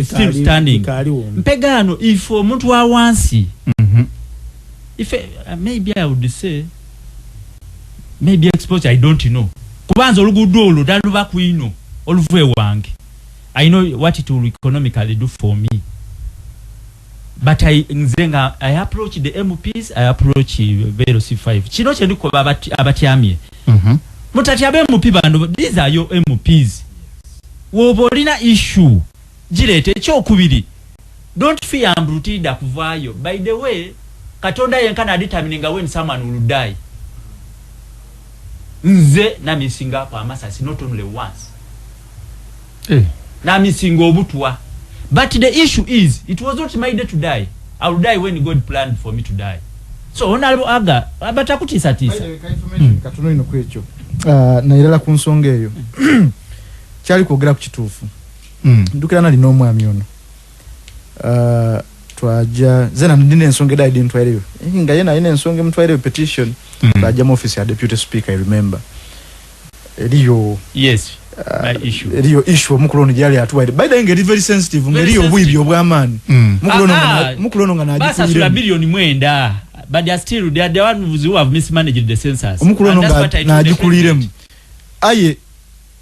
still standing mpegaano if omuntu wa wansi mhm. if uh, maybe i would say maybe exposure i don't know kubanza oluguudo olwo daluba kwino oluva ewange i know what it will economically do for me But I, nze nga I approach the MPs, I approach Vero C5. Kino kyendi kuba abati, abatyamye. Mm -hmm. Mutati abe MP bando, these are your MPs. Wobolina issue. Jirete, cho kubiri. Don't fear ambrutida kuvayo. By the way, katonda yenkana determining when someone will die. Nze na missing up amasasi, not only once. eh. Namisinga obutwa but the issue is it was not my day to die I will die when God planned for me to die so honorable aga batakutiisa tiisa hmm. katono ino kwekyo ah, nayirala ku nsonga eyo kyali kwogera ku kituufu hmm. ndukira nali n'omwami ono ah, twaja zena ndine ensonga edali dintwaireyo eh, nga yena ayina ensonga emutwaireyo petition hmm. twaja mu office ya deputy speaker i remember eliyo yes uh, eliyo issue omukulu ono gyali atuwaire by the ngeri very sensitive ngeri obwibi obwamaani mm. mukulu ono ah, ah. mukulu ono nga nagikulira bilioni mwenda but they are still they are the ones who have mismanaged the census omukulu ono nga nagikuliremu aye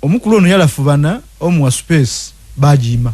omukulu ono yalafubana omuwa space bagiima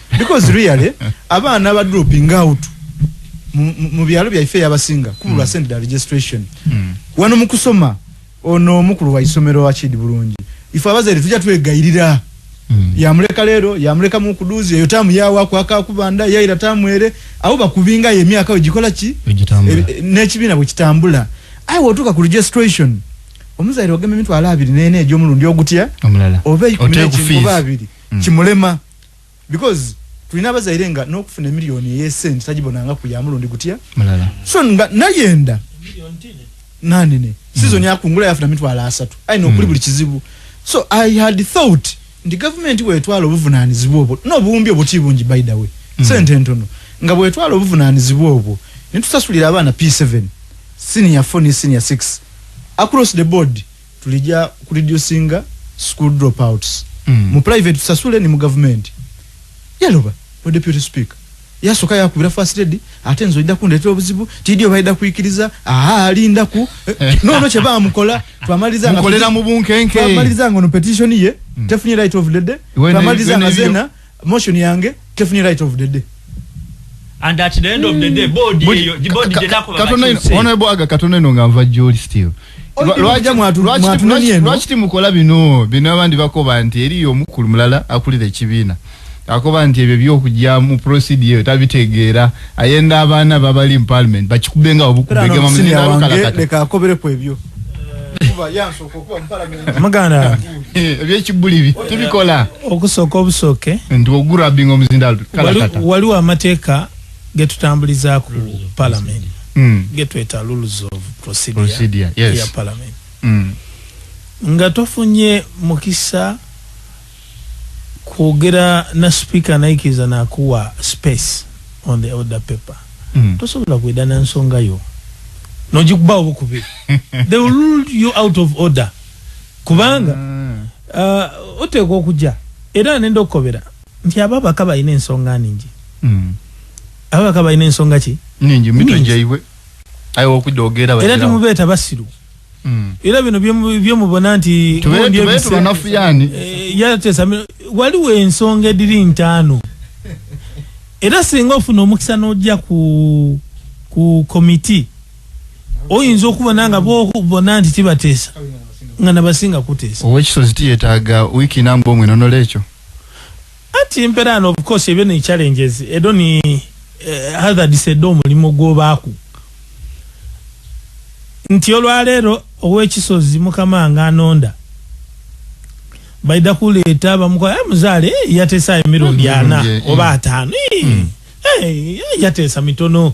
because really abaana ba dropping out mu byalo byaife yabasinga kubulwa mm. sente registration mm. wano mu kusoma ono omukulu wa isomero wa kidi bulungi ife abazere tujja twegayirira mm. yamuleka leero yamuleka mu kuduzi eyo tamu yawa kwaka kubanda yaira tamu ere abo bakubinga ye myaka ojikola ki e, n'ekibiina bwe kitambula aye wotuuka ku registration omuzaire ogema emitwalo abiri nene egy'omulundi ogutya oba eikuminekinkuba abiri mm. kimulema mm. because tulina abazaire nga nokufuna emiliyoni eyesente tagibonanga ku yamulundi gutya so nga nayenda nanene sizoni hmm. akungula yafuna mitwalo asatu aina okuli hmm. buli kizibu so i had thought nti gavumenti wetwala obuvunanizibwa obwo nobuwumbi obuti bungi by the way hmm. sente entono nga bwetwala obuvunanizibwa obwo netusasulira abaana p7 senior 4 ne senior 6 across the board tulija ku reducinga school dropouts mm. mu private tusasule ni mu government yaloba o deputy speaker yasoka yakubira first lady ate nzo ida kundetera obuzibu tidio baida kuikiriza aha alinda ku no no cheba amukola twamaliza nga mukolera mu bunkenke twamaliza ngo no petition ye mm. definitely right of the day twamaliza nga zena motion yange tefunye right of the day and at the end of the day body eyo body de nako katono ino ono ebo aga katono ino nga mva joli still lwaja mwatu mwatu nani eno lwaji timu kola bino bino abandi bako banti eri yo mukulu mulala akuli de chibina ako banti ebyo byo kujya mu procedure tabitegera ayenda abana babali in parliament bachikubenga obukubega mamuzina kala kata leka akobere kwebyo eh, kuba yanso muganda eh, ebyekibulibi tubikola okusooka obusooke nti ogurabinga omuzindaalo waliwo amateeka getutambulizaku parliament hmm. getweta rules of procedure ya parliament hmm. nga tofunye mukisa kwogera na speaker naikiriza nakuwa space on the order paper mm. tosobola kweda na nsonga yo nojikuba obukubi they will rule you out of order kubanga mm. uh, oteekwa okuja era nenda okukobera nti abo abaka balina ensonga ningi mm. abo abaka balina ensonga ki ningi mitwe jaibwe era temubeeta basiru era bino bye mubona nti tubetubanafuyani eh, yatesamira waliwo ensonga ediri ntaano era singa ofuna omukisa n'ojja ku ku komiti oyinza okubona nga bona nti tibateesa nga nabasinga kuteesa owekisozi tiyetaaga wiiki nambwa omwenonola ekyo Anti mpera and of course ebyo ni challenges edo ni eh, hazards edo omulimu gwobaaku nti olwaleero owekisozi mukama nga anonda baida kuleeta bamukola hey, eh, muzaale hey, eh, yateesa emirundi mm, ana mm, mm, oba ataano hey, hey, yateesa mitono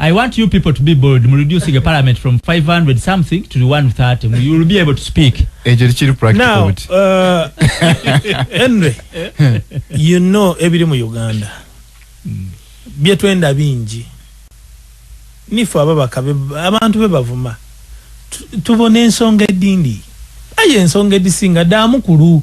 I want you people to be bold mu reducing a parliament from 500 something to 130. You will be able to speak. Ekyo kiri practical. Now, uh, Henry, you know ebiri mu Uganda. Hmm. Bye twenda bingi. Nifu ababaka abantu be bavuma. Tubone ensonga edindi. Aye ensonga edisinga damu kulu.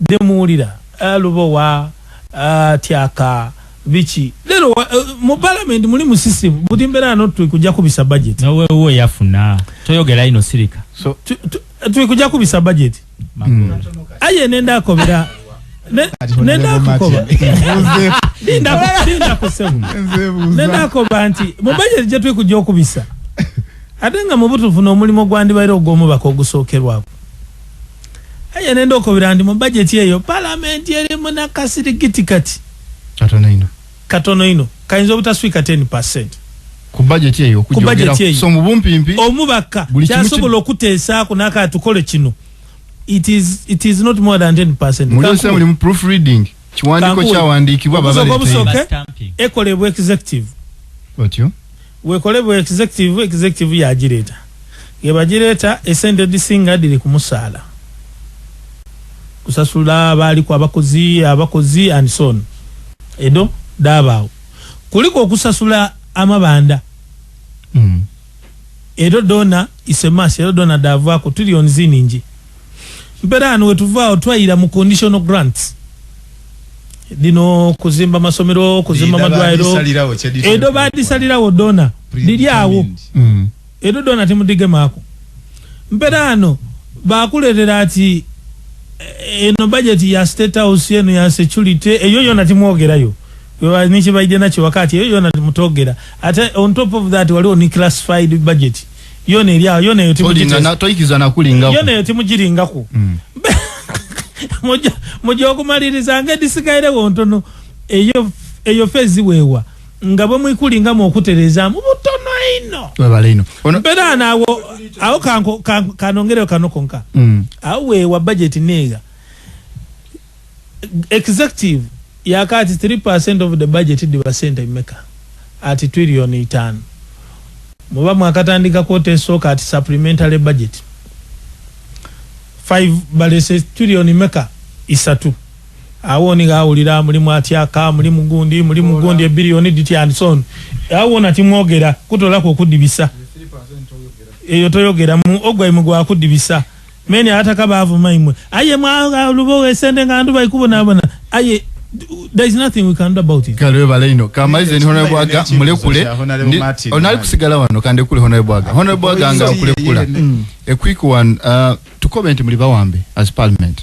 Dde muwulira ah lubowa ah tyaka biki lero wa uh, mu parliament muli musisi buti mbera no twi kuja kubisa budget. Nawe uwe yafuna toyogela ino sirika. So tu, tu, twi kuja kubisa budget. Mm. Aye nenda akobera. Nenda kukoba. Dinda dinda kusemu. Nenda koba nti mu budget je twi kuja kubisa. Atenga mubutu funa omulimu gwandi bairo gomu bakogusokerwa. aye nenda okubira nti mu bajeti eyo palamenti eri munakasirigiti kati katono ino katono ino kayinza obutaswika 10 percent ku bajeti eyo ku bajeti eyo so mubumpimpi omubaka kyasobola okuteesaako nakatukole kino it is, it is not more than 10 percent muli mu proofreading Kiwandiiko kyawandiikibwa baba leeta eno. Obusoke obusoke ekolebwa executive. Otyo. Wekolebwa executive, executive ya jireta. Yeba jireta esente disinga diri kumusala. Kusasula abali kwa bakozi, abakozi and so on. Edo, daba. Kuliko kusasula amabanda. Mm. Ero dona isemashi ero dona davako tuli on zininji mpera ano wetuvao twaira mu conditional grants dino kuzimba masomero kuzimba madwairo edo badisalirawo dona diri awo mm. edo dona timudige mako mpera ano bakuletera ati eh, eno budget ya state house eno ya security eyo yona timwogerayo nikibaidde nakyo wakati eyo yona mutogera ate on top of that waliwo ni classified budget yona eri awo yona eyo timuyona eyo timugiringako mm. muja okumaliriza nga edisigairewo ntono eyo eyo fezi wewa nga bwe mwikulinga mu okutereza mu butono ino webale ino mpera nawo awo kanko kanongereo kanokonka mm. awo wewa budget nega Executive yakaati three percent of the budget diba sente meka ati twillion itano muba mwakatandika kwota esooka ati supplementary budget five balese twillion meka isatu awo ni gawulira muli mwatyaka muli mugundi muli mugundi e billion diti and so on awo nati mwogera kutola kwo kudibisa eyo toyogera mu ogwa imugwa kudibisa Many abataka baavu mayi mwe aye mwalubowa esente nga ndu baikubonabona aye there is nothing we can do about it kalwe balaino kamalize ni honorable aga mulekule onali kusigala wano kande kule honorable aga honorable aga nga kulekula mm. a quick one uh, to comment muli bawambe as parliament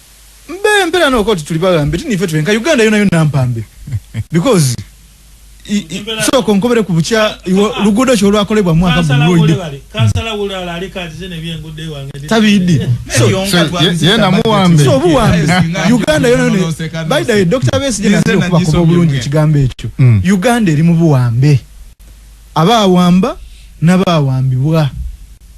mbe mpera no koti tuli bagambe tini fetu enka Uganda yona yona mpambe because so konkobere kubucha lugudo cho lwa kolebwa mwaka buloide kansala wula ala alika zine bye ngude wange tabidi so yonka twabizi yena muwambe so buwambe Uganda yona yona by the doctor base jina zile kwa kwa bulungi chigambe echo mm. Uganda eri mubuwambe aba wamba na ba wambibwa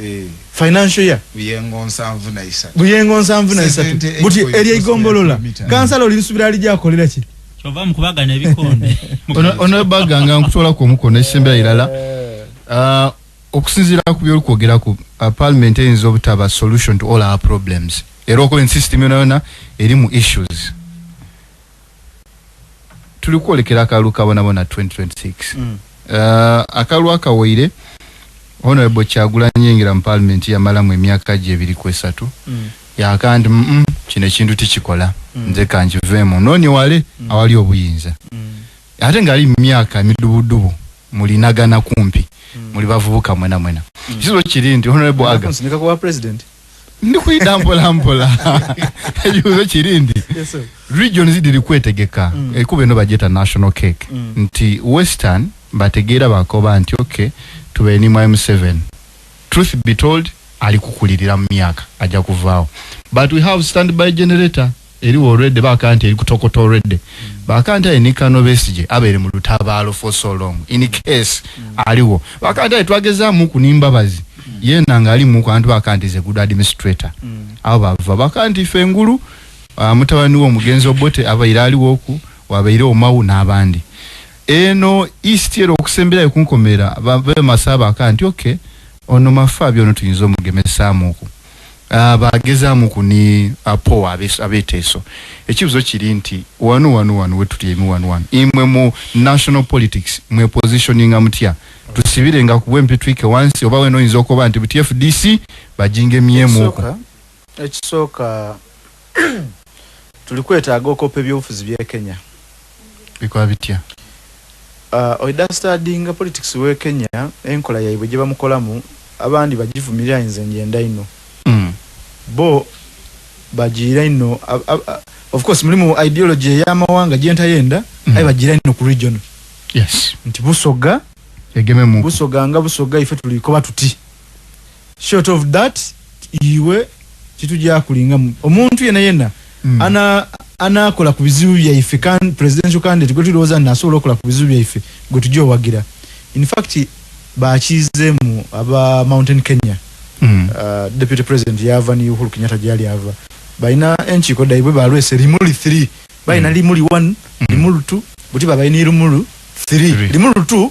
Eh. financial year buyengo nsanvu na isatu buyengo nsanvu na isatu buti eri egombolola kansala oli nsubira ali jakolera ki kyova mukubaga ne bikonde ono ono baga nga nkutola ko mukono esembera ilala uh, ah, okusinzira ku byoli kwogera ku uh, parliament eyinza obutaba solution to all our problems era okuba ensystem yona yona erimu issues tuli kwolekera akalulu kabonabona 2026 mm. uh, akalulu akawaire honorable kyagulanyi yingira mu parliament yamalamu emyaka gye ebiri ku esatu mm. yaka nti mm -mm, kino ekintu tikikola mm. nze kankiveemu noonye wale mm. awali obuyinza mm. ate ngaali mu myaka emidubudubu mulinagana kumpi mm. muli bavubuka mwena mwena mm. kizibu kiri nti honorable aga ndi kuyita mpolampola ekibuzo kiri nti region zidiri kwetegeka mm. ekuba eno bajeta national cake mm. nti western bategeera bakoba nti ok tubenimw m7 truth be told ali kukulirira mu myaka ajja kuvaawo but we have stand by generator Eriwo already baka nti eri kutokota already baka nti aye nikano besije abere mu lutabaalo for so long in case aliwo baka nti aye twageza muku nimbabazi yena nga ali muku antu baka nti ze good administrator abo bava baka nti fe ngulu uh, mutabani wo mugenzi obote aba ira aliwo oku wabeire omawu n'abandi eno east ero okusemberayo kunkomera babe masaba baka nti okay ono mafa byona tuyinza omugemesaamuku ah, bagezaamu ku ni apowa ah, abeteeso ekibuzo kiri nti wanu wanu wanu wetutyeemu wanu wanu imwe mu national politics mwe positioninga mutya tusibire nga kubwe mpitwike wansi oba wena oyinza okoba nti buti fdc bajinga emyemuku ekisooka Tulikwetaaga okope ebyobufuzi bye Kenya. Bikola bitya? Uh, oidastadinga politics we Kenya enkola yaibwe gyebamukolamu abandi bagivumirira nze njenda ino mm. bo bagiira ino of course mulimu ideology eyamawanga gyentayenda mm. aye bagiira ino ku region yes. nti busoga busoga nga busoga ife tulikoba tuti Short of that iwe kitujyakuli nga omuntu yena yena mm. ana anakola ku bizibu byaife kan presidential candidate gwe tulowooza nti asobola okola ku bizibu byaife gwe tujja owagira in fact bakizeemu aba mountain kenya mm. uh, deputy president yava ni uhuru kenyatta gyali ava balina enkiiko daibwe balwese limuli 3 balina mm. limuli 1 mm. limulu 2 buti babalina irumulu 3 limulu 2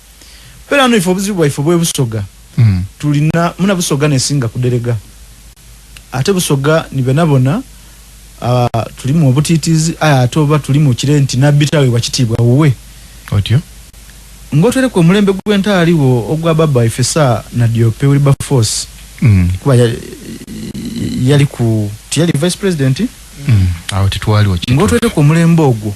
Pera no ifo buzibu ifo bwe busoga. Mm. Tulina muna busoga ne singa kudelega. Ate busoga ni benabona uh, tulimu obutitizi aya atoba tulimu kire nti nabitawe wakitibwa uwe. Otyo. Ngotwele kwa mulembe gwe ntali wo ogwa baba ifesa na diope uli ba force. Mm. Kwa ya, yali ku tiyali vice president. Mm. Awo tituwali wakitibwa. Ngotwele kwa mulembe ogwo.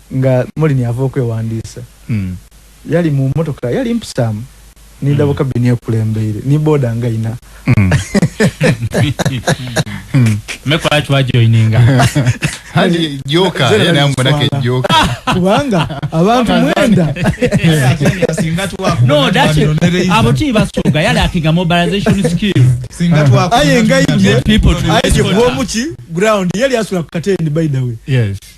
Nga Molini ava okwewandiisa, yali mu mmotoka yali mpisaamu ni ndaba kabini ekulembeire ni boda nga ina. Mmeko lwaki wajoininga? Hadi joka yena yamumanako ejjoka. Kubanga abantu mwenda. No, that's it. Abo ti basuuga yali akinga mobilization skill. Singa twakuba. Aye nga ije. Aye gwomu ki ground yali asula ku katendi by the way. Yes.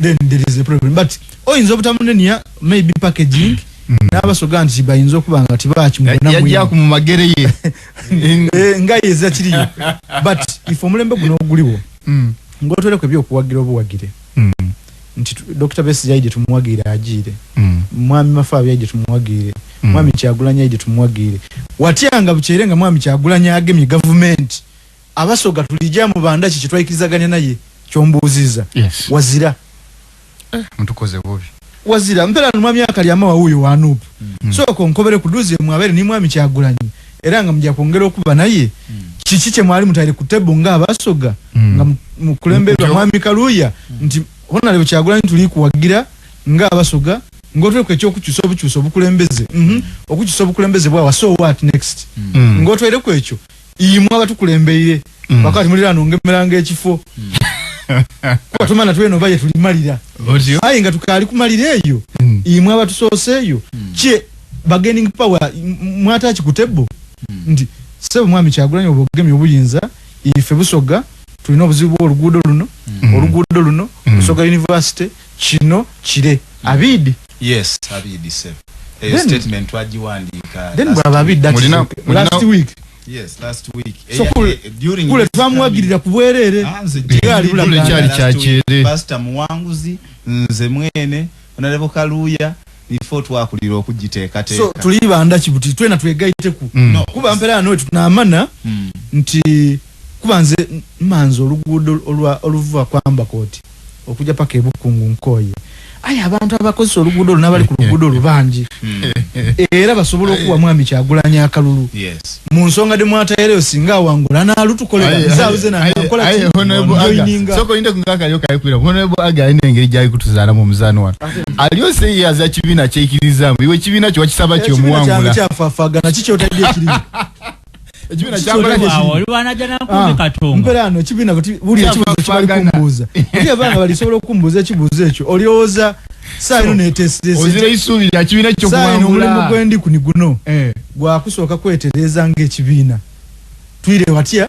then there is a problem but oyinza oh, obutamunenya maybe packaging mm. n'abasoga nti bayinza okuba nga tibakimuyajja ku mu magere ye eh, nga yeza kiriyo but if omulembe guno oguliwo mm. ng'otwereko ebyokuwagira obuwagire mm. nti dr besi yaije tumuwagire agiire mwami mafaabi yaije tumuwagire mwami kyagulanya yaije tumuwagire watya nga bukyere nga mwami kyagulanya agemye gavumenti abasoga tulija mu bandaki kyetwaikirizaganya naye kyombuuziza yes. wazira eh, mutukoze bubi wazira mpera no mwami akali ama wawuyo wa nup mm. so ko nkobere kuduze mwabere ni mwami kyagulanyi era nga mja kwongera okuba naye mm. kiki kye mwali mutayire ku tebo nga abasoga mm. nga mukulemberwa mwami kaluya mm. nti hona leo kyagulanyi tuli kuwagira nga abasoga ngotwe kwe kyo kukyusa obukyusa obukulembeze mhm mm okukyusa obukulembeze bwa so what next mm. mm. ngotwe kwe kyo imwe abatukulembeire mm. wakati mulira nongemeranga ekifo mm. kuba tumana tweno baye tulimalira aye nga tukali kumalira eyo mm. imwe abatusoose eyo mm. kye bargaining power mwataki ku table mm. nti sebo mwami kyagulanya obugemi obuyinza ife busoga tulina obuzibu oluguudo luno mm. oluguudo luno mm. busoga university kino kire mm. abidi Yes abidi sebo eyo then, statement twajiwandiika then bwa abidi that mulina, mulina, last week yes last week so kul, eh, eh, during kule twamwagirira ku bwerere ah, kule kyali kyakyere pastor muwanguzi nze mwene onalebo kaluya before twakulira okugiteekateeka so tuli banda kibuti twena twegayiteku mm. no, kuba mpera no tunamana mm. nti kuba nze manzi oluguudo oluva kwamba koti okuja paka ebukungu nkoye aye abantu abakozesa oluguudo olwo nabali ku luguudo olwo bangi hmm. era basobola okuwa mwami kyagulanya akalulu mu nsonga demwatayereyo singa awangula nalutukolaaenengeri gyalikutuzaalamu omuzaani wano aliyo seyaza kibiina kyekirizamu iwe kibiina kyo wakisaba kyomuwangula ekibiina kyakola kye kimu olwana jana nkumbi ah, katonga mpera ano ekibiina kati buli ekibuzo kibali kumbuza eri abana bali sobola okumbuza ekibuzo ekyo olioza saa ino netesitesi ozira isubi ya kibiina kyo kuwangula saa ino omulimu gwendi kuni guno eh. gwakusooka kwetereza nga ekibiina twire watya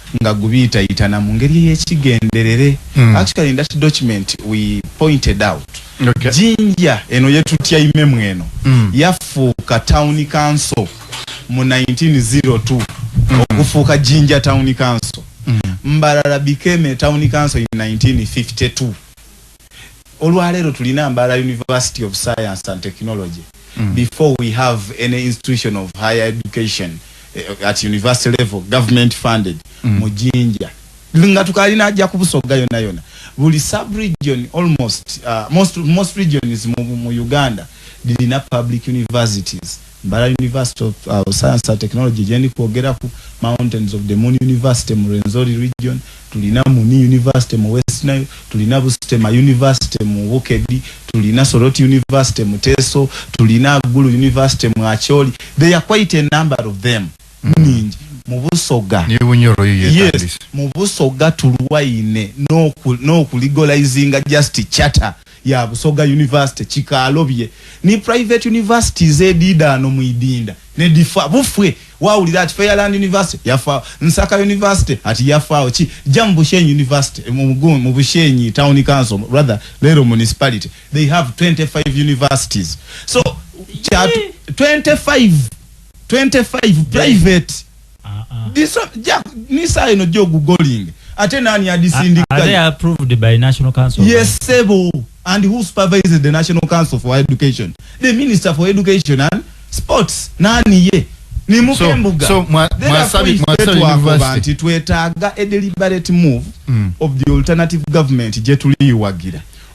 nga gubiitayitana mu ngeri ey'ekigenderere. Mm. Actually in that document we pointed out okay. Jinja eno yetutyaimemu eno mm. yafuuka town council mu 1902 mm. okufuuka Jinja town council mm. Mbarara became a town council in 1952 olwaleero tulina mbaala university of science and technology mm. before we have any institution of higher education eh, at university level government funded mm. mu jinja nga tukalina ajja kubusoga yona yona buli subregion almost uh, most, most regions mu, mu uganda lirina public universities Mbala University of uh, Science and Technology gyendi kwogeraku, Mountains of the Moon University mu Rwenzori region, tulina Muni University mu West Nile, tulina Busitema University mu Bukedi, tulina Soroti University mu Teso, tulina Gulu University mu Acholi. They are quite a number of them. Mm. Ningi. mubusoga yes mubusoga tulwaine n'okuligolizinga no just chatter ya Busoga University, Kikalobye ni private universities edidaano mu Idinda ne difa bufwe wawulira ati Fairland University yafa Nsaka University ati yafaawo ki jja mu Bushenyi University mu Mugun mu Bushenyi Town Council rather lero municipality they have 25 universities so kyatu 25 25 private Diso ja nisa eno jo googling ate nani adisindika are they approved by national council yes sebo and who supervises the national council for education the minister for education and sports nani ye ni mukembuga so, so mwa, mwa sabi mwa sabi university twetaga a deliberate move mm. of the alternative government jetuli yuwagira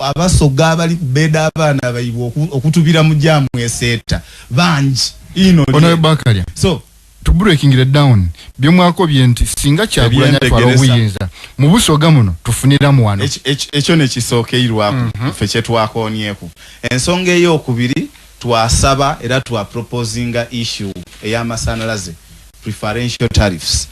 Abasoga abali kubeda abaana abaibwa okutubira mu jamu eseeta bangi ino onawe bakalya so to breaking the down byomwako byenti singa kyagulanya twala obuyinza mu busoga muno tufunira mu wano ekyo ne kisookeirwako mm -hmm. fe kyetwakonyeko ensonga eyokubiri Twasaba era twa proposinga issue eya masanalaze, preferential tariffs,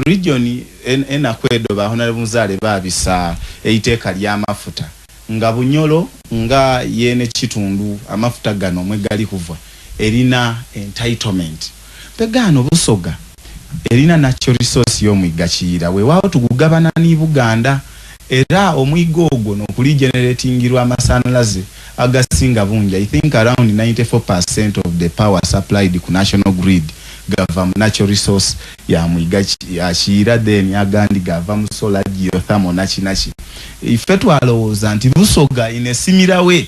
region enaku edo ba Honorable Muzaale babisa eiteeka lya mafuta nga Bunyoro nga yena ekitundu amafuta gano mwegali kuva erina entitlement. Mpega ano Busoga erina natural resource y'omwigga Kiyira wewaawo tugugabana ni Buganda era omwigga ogwo nokuli generatingirwa amasanalaze agasinga bungi I think around ninety four per cent of the power supplied ku national grid gava mu natural resource ya mwigga Kiyira then agandi gava mu solar, geothermal naki naki. Ffe twalowooza nti Busoga inesimirawe.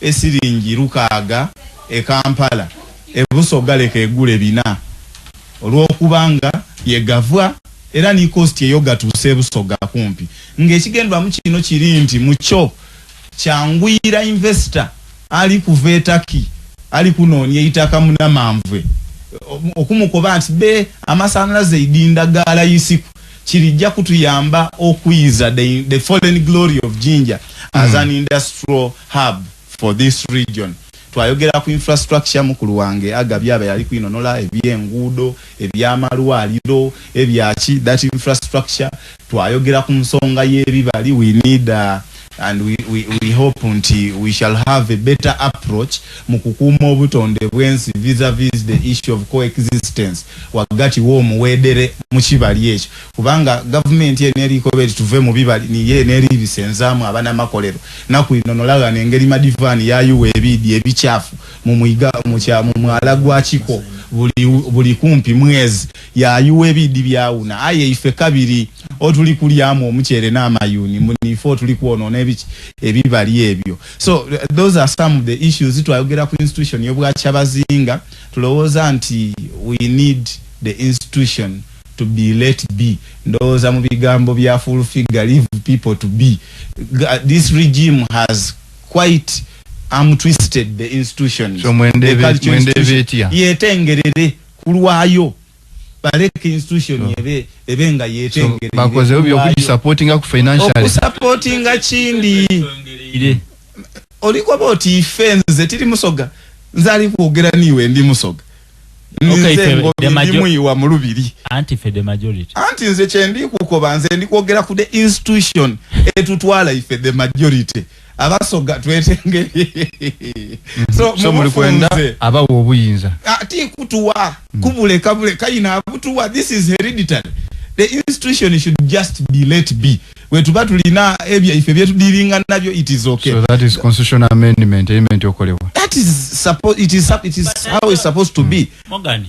e siringi lukaaga e Kampala e Busoga leka egule bina olwokuba nga ye gavua era ni cost eyo gatuuse e Busoga kumpi nga ekigendwamu kino kiri nti mukyo kyanguyira investor ali kuva e Turkey ali kunoonya eitaka munamanvue okumukoba nti be amasanalaze idinda ga layisi ku Kirijja kutuyamba okuyiza the the fallen glory of Jinja as an industrial hub for this region. Twayogera ku infrastructure mukulu wange aga byaba yali kwinonola ebyenguudo, ebyamalwaliro, ebyaki that infrastructure. Twayogera ku nsonga yebibali we need a and we we we hope nti we shall have a better approach mu kukuuma obutonde bwensi vis a vis the issue of coexistence wagati w'omuweedere mu kibali ekyo kubanga gavumenti eno erikoba eti tuve mu bibali niye neeriibisenzaamu abanamakolero naku ino nolagana engeri madivaani yayuwa ebiidi ebikyafu mu mwiga mu mwala gwa kiko buli buli kumpi mwezi Yaayuwa ebiidi byawuna aye ife kabiri otuli kulyamu omuceere n'amayuuni mbu niife otuli kwonoona ebiki ebibali ebyo so those are some of the issues twayogera ku institution y'obwakyabazinga tulowooza nti we need the institution to be let be ndowooza mu bigambo bya full figure leave people to be this regime has quite am twisted the institutions so, mwendebeetya yetengerere kulwayo baleka institution sure. ebe ebe nga yetengere so, bakoze obyo okuji supportinga ku financial oku supportinga chindi ile oliko boti ifenze tili musoga nzali kuogera niwe ndi musoga Okay, fe, the majority. Mulubiri. Anti fe the majority. Anti nze chendi kukoba nze ndi kuogera ku the institution etutwala ife the majority. abasoga twetengeri mm-hmm. so, so muli kwenda abawa obuyinza ati ah, kutuwa mm. kubule kabule kayina abutuwa this is hereditary the institution should just be let be wetuba tulina ebya ife byetu dilinga nabyo it is okay so that is constitutional amendment amendment okolewa that is suppose it is it is how it's supposed to be mm. mogani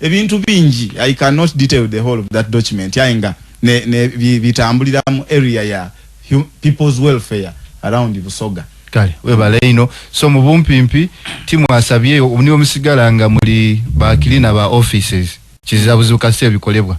Ebintu bingi I can not detail the whole of that document aye nga ne, ne bi, bitambulira mu area ya hu, people's welfare around Busoga. Kale webale ino so mubumpimpi timu asabye niwe musigala nga muli bakilina ba offices kizizabuzibu kasita ebikolebwa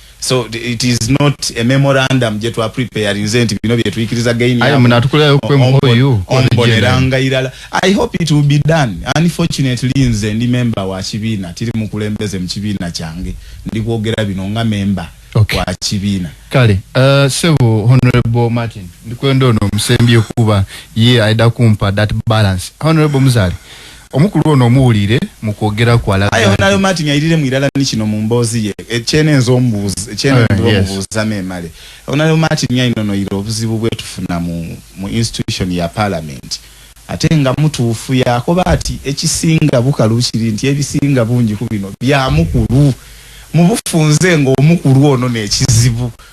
so it is not a memorandum je twa prepare nze nti bino bye tuikiriza gain ya mna tukula yo kwe mkoyu ombonera ngairala i hope it will be done unfortunately nze ndi member wa kibina tiri mukulembeze mkibina change ndi kuogera bino nga member okay. wa kibina kale uh, sebo honorable martin ndi kwendo no msembi okuba ye aida kumpa that balance honorable mzali Omukulu ono omuwulire mu kwogera kwe alaga nti. Honourable Martin Ayirire mu irala ni kino mu mboozi ye ekyenenze omubuuza ekyenenze omubuuza memale Honourable Martin ayinonoire obuzibu bwetufuna mu mu institution ya parliament ate nga mutuufu yakoba ati ekisinga bukalu kiri nti ebisinga bungi ku bino bya mukulu mubufunze nga omukulu ono nekizibu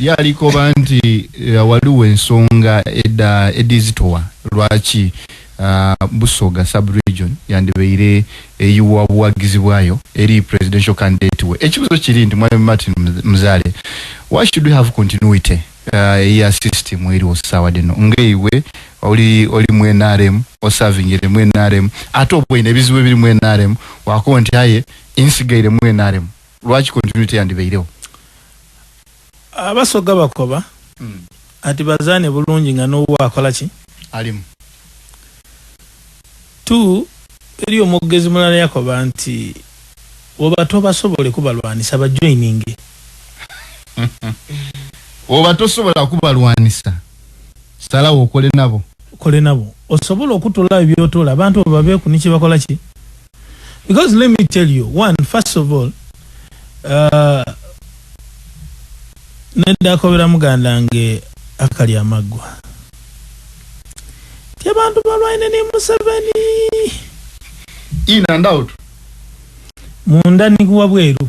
Ye alikoba nti eh, waliwo ensonga edda edizitowa lwaki ah, Busoga sub region yandibeire eyiwa buwagizi bwayo eri presidential candidate we. Ekibuzo kiri nti Mwami Martin Muz- Muzale, why should we have continuity ah, eya system eriwo sawa dino nga iwe oli oli mu NRM osavingire mu NRM ate obwine ebizibu ebiri mu NRM wakuba nti aye insigaire mu NRM lwaki continue teyandibeirewo abasoga bakoba mm. ati bazane bulungi nga nowo akola ki alimu tu eri omwogezi mulala yakoba nti oba tobasobole kubalwanisa bajoininge oba tosobola kubalwanisa salawo okole nabo okole nabo osobola okutula ebyotola abantu obabeku nikyebakola ki Because let me tell you, one, first of all, uh, nedda akobera muganda nge akali amaggwa ti abantu balwaine ne museveni in and out munda nikuwa bweru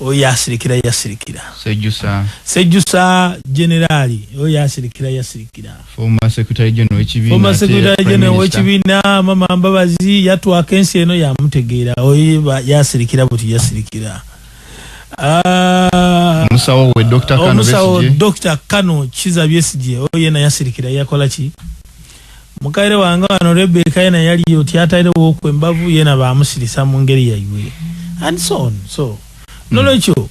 Oyo asirikira yasirikira. Sejjusa. Sejjusa generali. Oyo asirikira yasirikira. Former secretary general w'ekibiina. Former secretary general w'ekibiina mama Mbabazi yatwaka ensi eno yamutegeera. Oyo yasirikira buti yasirikira. Ah, omusawo we Dr. Kano Besigye. Omusawo Dr. Kano Kiza Besigye. Oyo yena yasirikira yakola ki? Mukaire wange wano Rebecca yena yali oti atairewoku embavu yena bamusilisa mungeri yaibwe and so on so mm. nolwekyo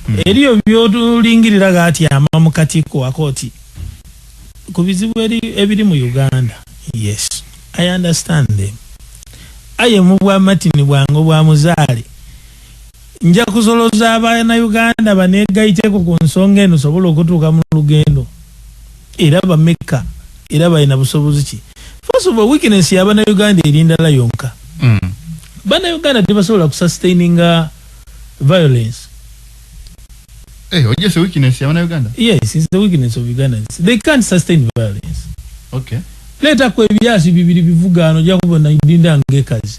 mm. eriyo byotulingirira gatyama mukatiko akoti kubizibu ebiri mu Uganda yes I understand them aye mubwa matini bwango bwa muzaale Nja kusoloza abanauganda banegaiteko ku nsonga eno sobola okutuuka mu lugendo era bamekka era balina busobozi ki. First of all weakness ya banauganda eri ndala yonka. Mm. Banauganda tebasobola ku sustaininga violence. Eh, oje se weakness ya banauganda? Yes, it's the weakness of Ugandans. They can't sustain violence. Okay. Leta kwe biyasi bibiri bivugaano jakubo na dinda ngekazi.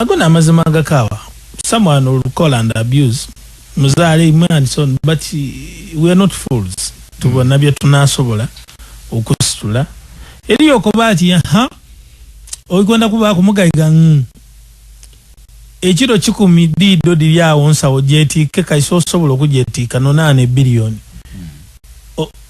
Ago namazima agakaawa someone will call and abuse muzaale imwe and so but we are not fools tubona mm. byetunasobola okusitula eriyo okuba ati ha oikonda kuba kumugaiga mm. ekiro kikumi diido diri awo nsawo gyetiike kaisa osobola okugyetiika nonaana ebiliyoni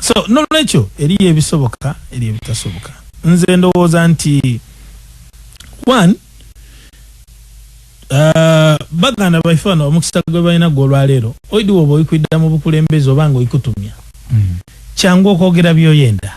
so nolwekyo eriyo ebisoboka eri ebitasoboka nze ndowooza nti one uh, baganda baife bano omukisa gwe balina gwe olwaleero oidi woba oikwidda mu bukulembeze oba nga oikutumya mm. kyangu okwogera byoyenda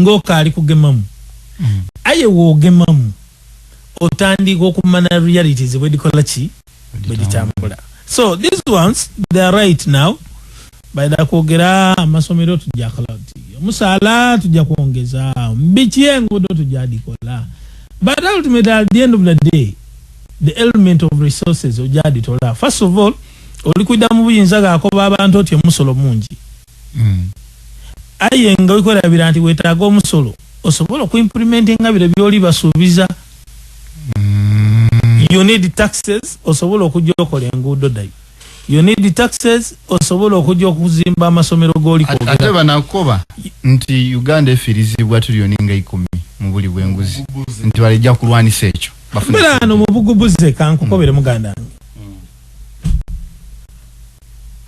ngokaali kugemamu mm. aye wogemamu otandiika okumana realities bwedikola ki bweditambula so these ones they are right now baida kwogera amasomero tujja cloud omusaala tujja kwongeza biki engudo tujja dikola but ultimately at the end of the day the element of resources ojja ditola first of all olikuida mu buyinza gakoba abantu oti omusolo mungi Aye nga wekwerabira nti wetaaga omusolo osobole oku implimentinga bire byoli basuubiza. You need taxes osobole okujja okola enguudo dai. You need taxes osobole okujja okuzimba amasomero goli At, kwogera. ate banakoba nti Uganda efirizibwa tuliyoni nga ikumi mu buli bwenguzi nti balejja kulwanisa ekyo bafune Mbera sente. ano mu bugubuze kankukobere muganda wange.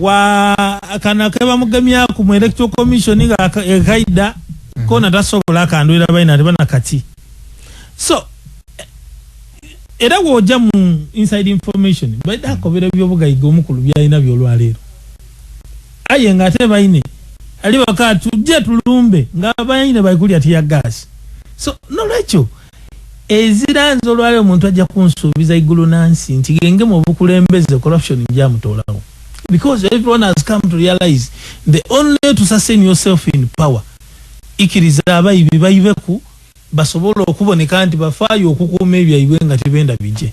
wa kano akebamugemyaku mu electoral commission nga ekaida mhm. kona tasobola akandwira baina ati bana kati so era woja mu inside information baida akobera mhm. byobugaiga omukulu byalina byolwaleero aye nga ate baine ali waka tujje tulumbe nga baine baikuli ati ya gas so nolwekyo Ezira nze olwali omuntu ajja kunsuubiza igulu nansi nti genge mu obukulembeze corruption nja mutolawo because everyone has come to realize the only way to sustain yourself in power ikiriza abayibi bayibeku basobole okuboneka nti bafaayo okukuuma ebyaibwe nga tebenda bije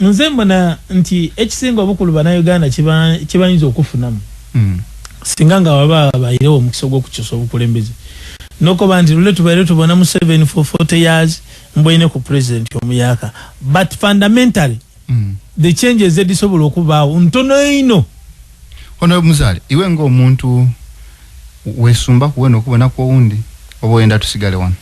Nze mbona nti ekisinga obukulu bana Uganda kyebayinza okufunamu mm. singa nga waba bayirewo omukisa ogwokukyusa obukulembeze nokoba nti lule tubaire tubona mu 7 for 40 years mbwene ku president omuyaka but fundamentally mm. the changes edisobola okubaawo ntono eino ono muzale iwe nga omuntu wesumba kuwena okubona kwowundi oba oyenda tusigale wano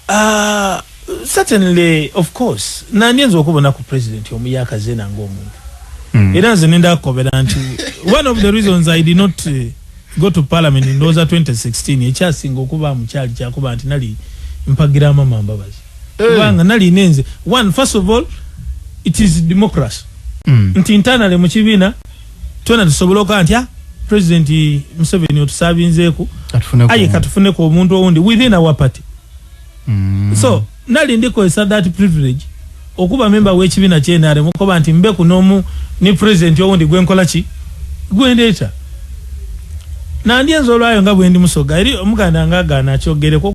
Ah, certainly of course nandi nze okubona ku president omu yakazena ng'omuntu mm. era nze nenda akobera nti one of the reasons i did not uh, go to parliament ndowooza 2016 ekyasinga okuba mukyali kyakuba nti nali mpagira mama mbabazi eh. kubanga hey. nali nenze one first of all it is democracy mm. nti internally mu kibiina twena tusoboloka ntya president museveni otusabinzeku aye katufuneko omuntu owundi within our party mm. so nali ndikozesa that privilege okuba memba wekibina kyenare mukoba nti mbeku nomu ni president owundi gwenkola ki gwendeeta nandi enza olwayo nga bwendi musoga eri omuganda nga agana kyogereko